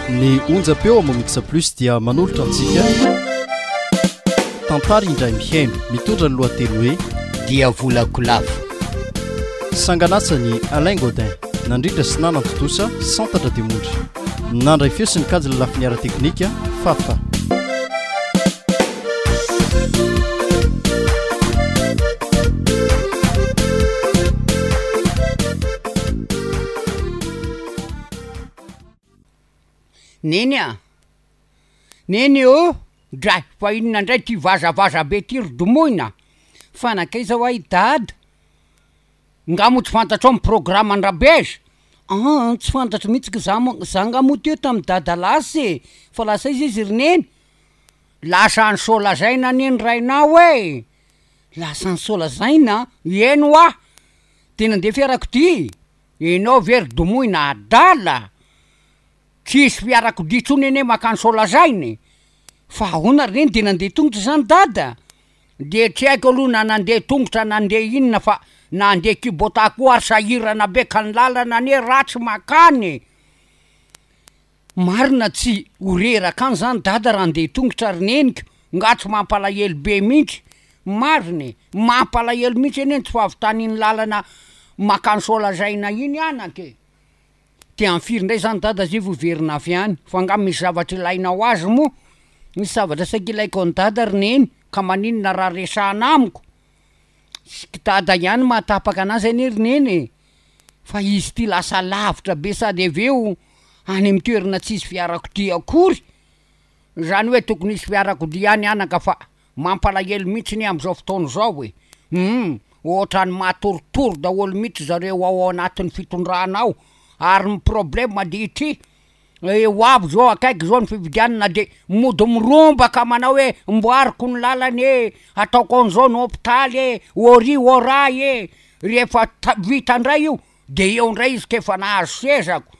ny onjam-peo amin'ny Mix Plus dia manolotra antsika tantara indray mihaino mitondra ny lohateny hoe dia volakolavo sanganasany Alain Godin nandrindra sy nanantontosa santatra dia mondry Nandray feo sy nikajy ny lafiny ara-teknika, Fafa. Neny a! Neny ô! Dray, fa inona indray ity vazavaza be ity ry Domoina? Fa nankaiza ho'a i Dada? Nga moa tsy fantatrao ny programme an-dRabejy? Aa tsy fantatro mihitsy ka za moa, za nga moa teo tamin'i dada lasa e! fa lasa aiza izy ry neny? Lasa any Soalazaina anie ny rainao e! Lasa any Soalazaina? Eny hoa! Dia nandeha fiarakodia? Ianao ve ry domoina adala? Tsy hisy fiarakodia intsony anie mankany Soalazaina e! Fa ahoana ry neny dia nandeha tongotra izany dada? Dia tsy haiko aloha na nandeha tongotra na nandeha inona fa na handeha Kubota koa ary sahirana be ka ny lalana anie ratsy makany e! Marina tsy ho reraka any zany dada raha handeha tongotra ry neniko nga tsy mampalahelo be mintsy? Marina e! Mampalahelo mintsy anie ny tsy fahavitany iny lalana makany Soalazaina iny anaka e! Dia amin'ny firy indray izany dada zay vao hiverina avy any? Fa angaha misy zavatra ilaina ho azy moa? Misy zavatra saika ilaiko an'i dada ry neny ka maninona raha resahana amiko? Tsiky dada ihany mahatapaka anazy anie ry neny e! Fa izy ity lasa lavitra be sady avy eo any amin'ny toerana tsisy fiarakodia akory! Izany hoe tokony hisy fiarakodia any anaka fa. Mampalahelo mihitsy ny amin'izao fotoana izao e! Humm! Ohatrany matoritory daholo mihitsy zareo ao anatin'ny fitondrana ao ary ny problème andihitr'i eh ho avy zao akaiky izao ny fifidianana de mody mirombaka manao hoe mboariko ny lalana e, ataoko an'izao ny hôpitaly e, ôry ôra e! Rehefa ta- vita indray io de eo indray izy k'efa nahazo seza ako!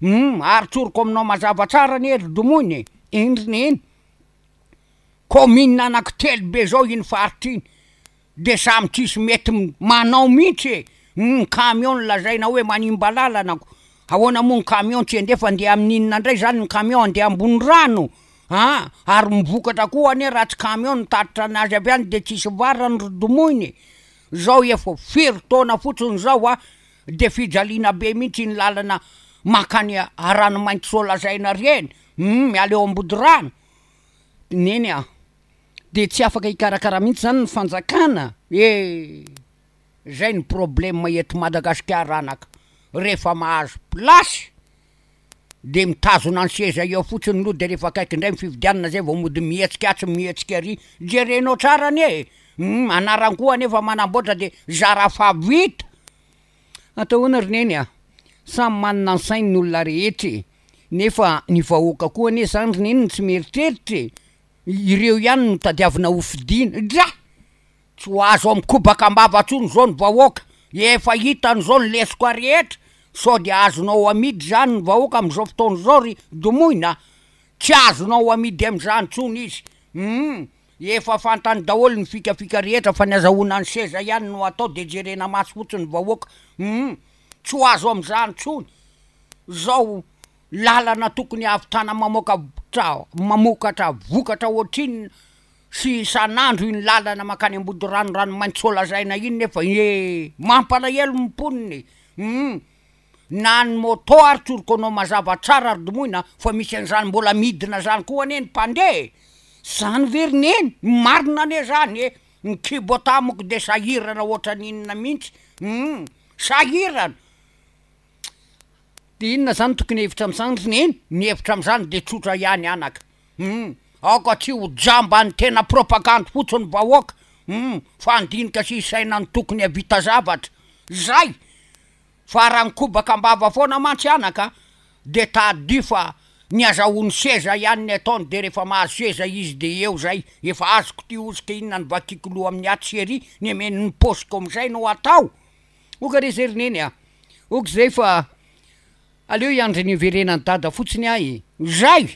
Humm! Ary tsoriko aminao mazava tsara anie ry domoina e! Indrina iny! Kaominina anaky telo be zao iny faritra iny de samy tsisy mety manao mintsy e! ny camion lazaina hoe manimba lalana ko ahoana moa ny camion tsy endefa handeha aminy inona ndray zany ny camion handeha ambony rano an! ary ny vokatra koa anie raha tsy camion no mitatitra ny azy avy any de tsisy varany ry domoina e! zao efa firy taona fotsiny zao an! de fijaliana be mintsy iny lalana makany Aranomainty so lazaina reny hum! miala eo Ambodirano Neny a! de tsy afaka hikarakara mihitsy zany ny fanjakana e! zay ny probleme eto Madagasikara anaka, rehefa mahazo place de mitazona ny seza eo fotsiny lo de rehefa akaiky indray ny fifidianana zay vao mody mihetsika atsy mihetsika ary, jerenao tsara anie e! hum! anarany koa anefa manamboatra de zara fa vita. Atao ahoana ry neny a! Samy manana ny sainy ny olona rehetra e! Nefa ny vahoaka koa anie zany ry neny no tsy mieritreritra e! Ireo ihany no tadiavina ho fidiana. Dra! Tsy ho azo amikobaka ambava tsony zao ny vahoaka! Efa hitany zao ny lesoka rehetra! Sao dia azonao amidy zany ny vahoaka amizao fotoana zao ry domoina a! Tsy azonao amidy amizany tsony izy! Hum! Efa fantany daholo ny fikafika rehetra fa ny azahoana ny seza ihany no atao dia jerena maso fotsiny ny vahoaka humm tsy ho azo amin'izany tsony zao lalana tokony hahavitana mamoaka mamokatra vokatra ohatrinona sy isan'andro iny lalana makany ambodirano ranomainty sao lazaina iny nefa ee mampalahelo ny mponina e humm. na ny moto ary tsorikoanao mazava tsara ry domoina fa misy an'izany mbola midina zany koa anie ny mpandeha e! Zany ve ry neny? Marina anie zany e! Ny Kubota amiko dia sahirana ohatran'ny inona mihintsy humm! Sahirana! Dia inona zany tokony hevitra amin'izany ry neny? Ny hevitra amin'izany dia tsotra ihany anaka humm! Aoka tsy ho jamba ny tena propagandy fotsiny ny vahoaka humm! Fa handinika sy hisaina ny tokony havita zavatra! Zay! Fa raha nikobaka am-bava foana mantsy anaka dia tadidio fa ny azahoany seza ihany ny ataony dia rehefa mahazo seza izy dia eo izay efa azoko ity hosoka inona no vakiako loha amin'ny atsy sy ery nemeno ny paosiko amin'izay no atao ok re zay ry neny a! ok zay fa aleo hiandry ny hiverenan'i dada fotsiny aho e! izay!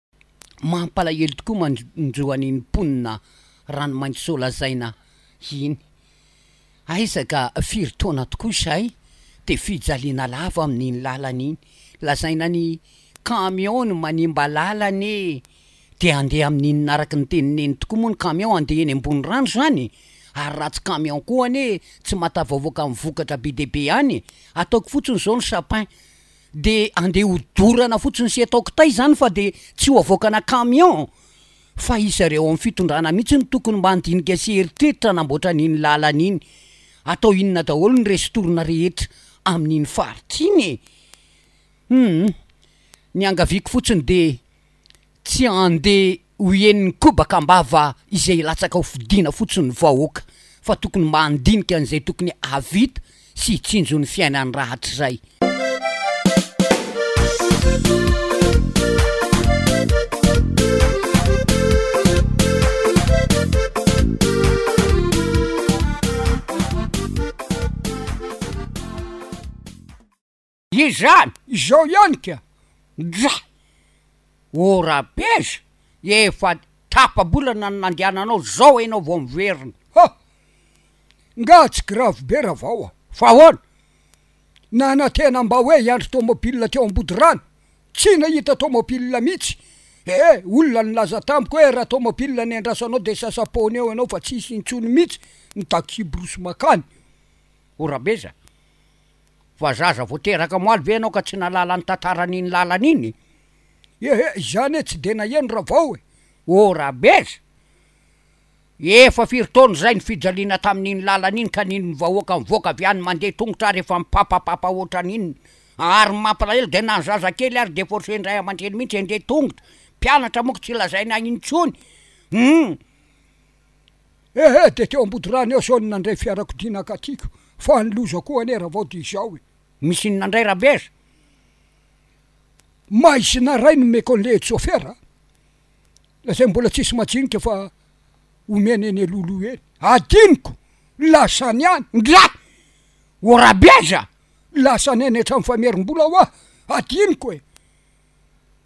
mampalahelo tokoa mandro an'iny mponina Ranomaintisoa lazaina iny. Aiza ka firy taona tokoa izay dia fijaliana lava amin'iny lalana iny. Lazaina ny camion no manimba lalana e! Dia handeha amin'inona araka ny teny neny tokoa moa ny camion handeha eny ambony rano izany e! Ary raha tsy camion koa anie tsy mahatavaovoaka amin'ny vokatra be dia be any e! Ataoko fotsiny izao ny sapin. de andeha ho dorana fotsiny sy atao kitay zany fa de tsy ho avoakana camion fa izareo ao amin'ny fitondrana mihitsy no tokony mba handinika sy eritreritra hanamboatra an'iny lalana iny, atao inona daholo ny resin-torona rehetra amin'iny faritra iny e! Humm, niangaviako fotsiny de. Tsy ande ho henon'ny kobaka ambava izay latsaka ho fidiana fotsiny ny vahoaka fa tokony mandinika an'izay tokony havita sy hitsinjo ny fiainany rahatrizay. Izany izao ihany ka! Ndra! O Rabez, efa tapa-bolana no nandehananao zao enao vao miverina! Ha! Nga tsy grave be Ravao a! Fa ahoana? Nanantena mba hoe hiandry tomobile teo Ambodirano, tsy nahita tomobile mitsy! He! Olona nilaza tamiko hoe raha tomobile no endrasanao dia sasa-poana eo enao fa tsisy intsony mitsy ny taxi-brousse makany! O Rabez a! Fa zaza vao teraka omaly ve ianao ka tsy nahalala ny tantaran'iny lalana iny? Ehe, izany e, tsy dia naheno Ravao e! O Rabeza! Efa firy taona izay ny fijaliana tamin'iny lalana iny ka nino ny vahoaka mivoaka avy any mandeha tongotra ary efa mipapapapa ohatran'inona. Ary ny mampalahelo dia na ny zazakely ary dia forcen'ny ray aman-dreny mihitsy handeha tongotra. Mpianatra moa ka tsy lazaina intsony. Humm! Ehe dia teo Ambodorano eo sao ny nandray fiarakodia nakatiko fa ny loza koa anie ravao dia izao e. Misy inona indray Rabeza? Maizina ray no omeko an'ilay etsofera a! Lazainy mbola tsisy majinika fa omeny eny Lolo eny. Adinoko! Lasany any! Ngiahy! O Rabeza! Lasany any an-trano famerim-bola hoa! Adinoko e!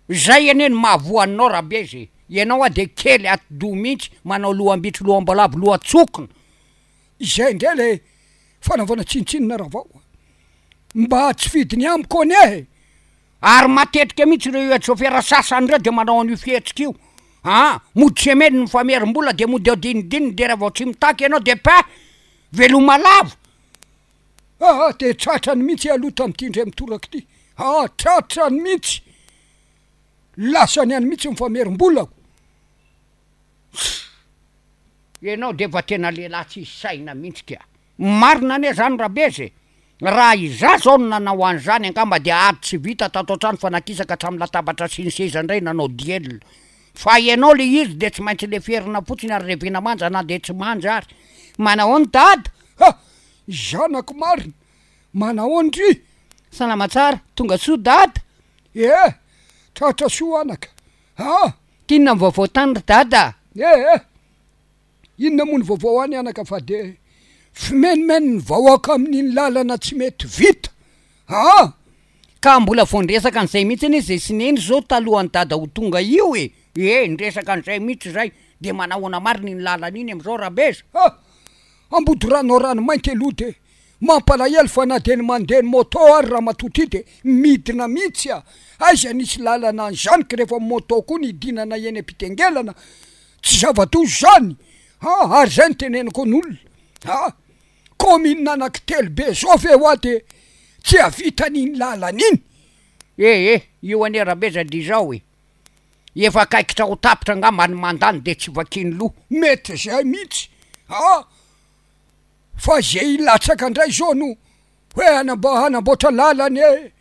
Zay anie no mahavoa anao rabezy e! Ianao a dia kely atidoha mihitsy manao lohambitro lohamboalavo lohatsokina. Izay indray ilay fanaovana tsinontsinona ravao a! Mba tsy fidiny amiko anie e! Ary matetika mihitsy ireo Etsofera sasany ireo dia manao an'io fihetsika io a! Mody semely ny famerim-bola dia mody ao dinidininy dia raha vao tsy mitaky ianao dia peh! Veloma lava! Aa dia tratrany mihitsy aloha tamin'ity indray mitoraka ity, aa tratrany mihitsy, lasany any mihitsy ny famerim-bolako. Ianao dia efa tena lehilahy tsisy saina mihitsy ka. Marina anie izany Rabeza e! Raha izaho izao no nanao an'izany angamba dia ady tsy vita tato an-trano fa nakisaka hatramin'ny latabatra sy ny seza indray nanao duel. Fa ianao ilay izy dia tsy maintsy leferina fotsiny ary revena manja na dia tsy manja ary. Manahoana dada? Ha! zanako marina, manahoana ndry? Salama tsara, tonga soa dada? Ee, tratra soa anaka aa. T'inona ny vaovao tany ry dada? Ee, inona moa ny vaovao any anaka fa dia fimenomenony ny vahoaka amin'iny lalana tsy mety vita aa. Ka mbola vao niresaka an'izay mihitsy anie zay sy neny zao talohan'i dada ho tonga io e. Ee, niresaka an'izay mihitsy zay, dia manahoana marina iny lalana iny am'izao Rabeza? Haa, Ambodorano ao Ranomainty eloha de mampalahelo fa na de ny mandeha ny moto ary ramatoa ty de midina mitsy a! aiza nisy lalana anzany ka refa moto koa ny hidinana eny ampitengelana tsy zava-doza zany a! ary zay no teneniko ny olona a! commune anaky telo be zao ve hoa de tsy avitan iny lalana iny ee! io anie rabe za de izao ee! Efa akaikitra ho tapitra angamba ny mandany dia tsy vakiany loha. Mety zay mihitsy a! Fa ze hilatsaka ndray zao no hoe hanamboatra lalana e!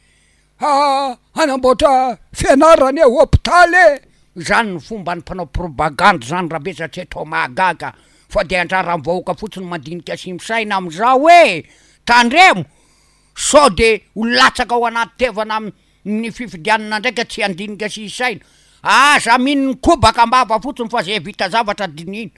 Hanamboatra fianarana e! Hopitaly e! Zany no fomban'ny mpanao probagandy zany rabe za tsy atao mahagaga fa de anjaran'ny vahoaka fotsiny ny mandinika sy misaina amizao e! Tandremo sao de ho latsaka ao anaty tevana Ny fifidianana ndray ka tsy handinika sy hisaina. Aza mino ny kobaka ambava fotsiny fa zay vita zavatra dinihina.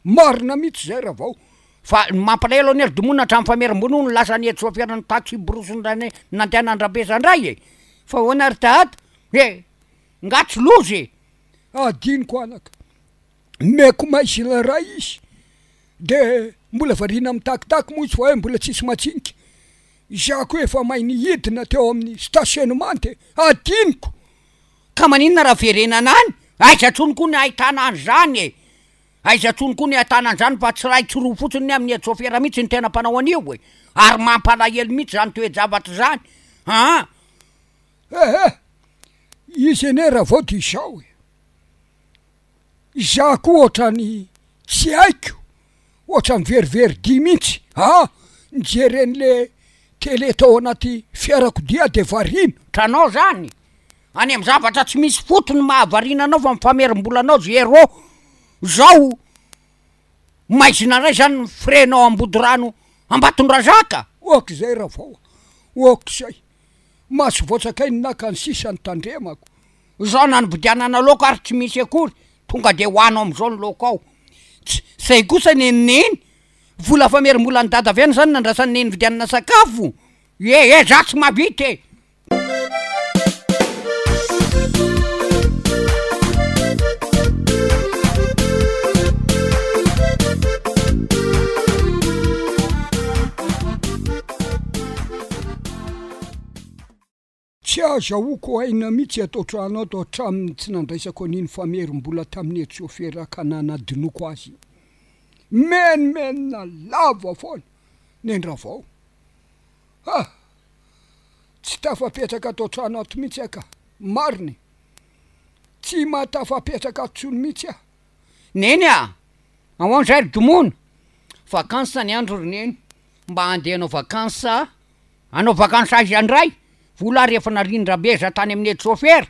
Marina mitsy zay Ravao. Fa ny mampalahelo anie ry Domoina hatramin'ny famerim-bola hono lasa ny hetsi voafera ny taxi brousse ndray nandeha nandrambesa ndray e! Fa ahoana ary dahady? He! Nga tsy loza e! Adinoko anaka. Meko may sy ilay ray izy. De mbola variana mitakitak moa izy fa hoe mbola tsisy matsinika. Izaho koa efa may ny hidina teo amin'ny stationnement e! Hadinoko! Ka maninona raha verenana any? Aiza tsony koa ny ahitana an'izany e! Aiza tsony koa ny ahitana an'izany fa tsy iray tsy roa fotsiny ny amin'ny Etsofera mihitsy ny tena mpanao an'io e! Ary mampalahelo mihitsy izany toe-javatra izany an! Ehe! Izy anie raha vao dia izao e! Izaho koa ohatrany tsy haiko, ohatrany very very dia mintsy ah nijery anle tele tao anaty fiarakodia de variana. Tranao zany? Any am zavatra tsy misy fotony mahavariana anao fa mifamerimbola anao zé rô zao maizina ray zany ny frais nao ambodirano ambatondrazaka? Ok zay Ravao a, ok zay, maso voatsakain'ny naka ny sisa ny tandremako, Izao nanodianana laoka ary tsy misy akory, tonga dia ho anao amizao ny laoka ao. Tsy zay kosa ny an'i Neny, vola famerim-bolan'i Dada avy any izany nandrasan'i Neny nividianana sakafo, ye ye za tsy mahavita e! Tsy azahoako aina mihitsy ato an-trano ato hatramin'ny tsy nandraisako an'iny famerim-bola tamin'ny hetsi-sôfera ka nanadinoako azy iny. Mimenomenona lava foana ny an-dRavao. Ha! Tsy tafapetraka ato an-trano ato mihitsy aho ka. Marina e! Tsy maha tafapetraka ato intsony mihitsy aho. Neny a! Ahoana indray ry Domona? Vacances ny andro ry Neny. Mba handeha hanao vacances Hanao vakansy aiza ndray? Vola ary efa narindrabeza tany amin'ny aide chauffeur.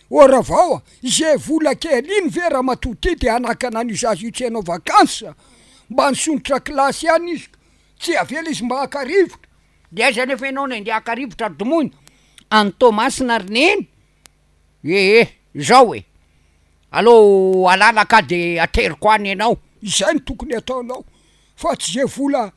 Ô Ravao a! izay vola kely iny ve ramatoa ty dia hanakana an'io zaza io tsy hanao vakansy? Mba nisondrotra kilasy ihany izy ka tsy avela izy mba haka rivotra. De aiza anefa ianao no handeha haka rivotra ry Domoina? Any Toamasina ry Neny? Ee izao e! aleo halala ka de ateriko any ianao. Izay no tokony hataonao fa tsy ze vola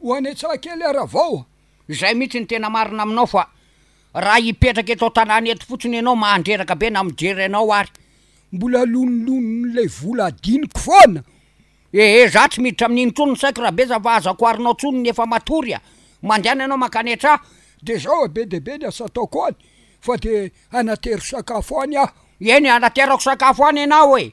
Ho any Antsahakely ary avao. Izay mihitsy no tena marina aminao fa raha hipetraka eto an-tanàna eto fotsiny ianao mahandreraka be na mijery anao ary. Mbola lonilonon'ilay vola adinoko foana. Ehe za tsy miditra amin'iny intsony ny saiko rabesa fa aza koarinao tsony ny efa matory a! Mandehana ianao mankany an-tra. Dia zao a, be dia be ny asa ataoko any fa dia hanatero sakafo any aho. Eny hanaterako sakafo any ianao e!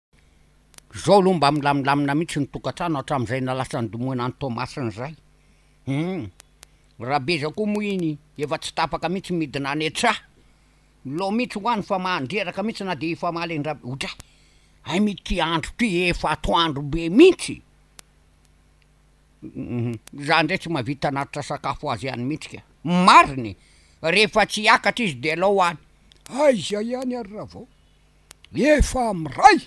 Zao aloha mba milamilamina mihitsy ny tokantrano hatramin'izay nalasan'i Domoina an'i Toamasina izay. Hum. Rabeza koa moa iny efa tsy tapaka mihitsy midina any an-tsaha. Milao mihitsy ho any fa mandreraka mihitsy na dia hifamaly an-dRab-. Otra! Hay mity andro ty efa atoandro be mihitsy e! Hum. Izaho indray tsy mahavita hanatitra sakafo ho azy ihany mihitsy ka. Marina e! Rehefa tsy hiakatra izy dia alao any. Aiza ihany ary Ravao? Nefa miray!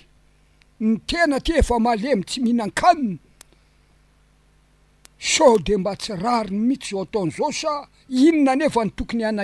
Ny tena aty efa malemy tsy mihinan-kanina, sao dia mba tsy rariny mihitsy izao ataony izao sa inona anefa no tokony hanahirana azy?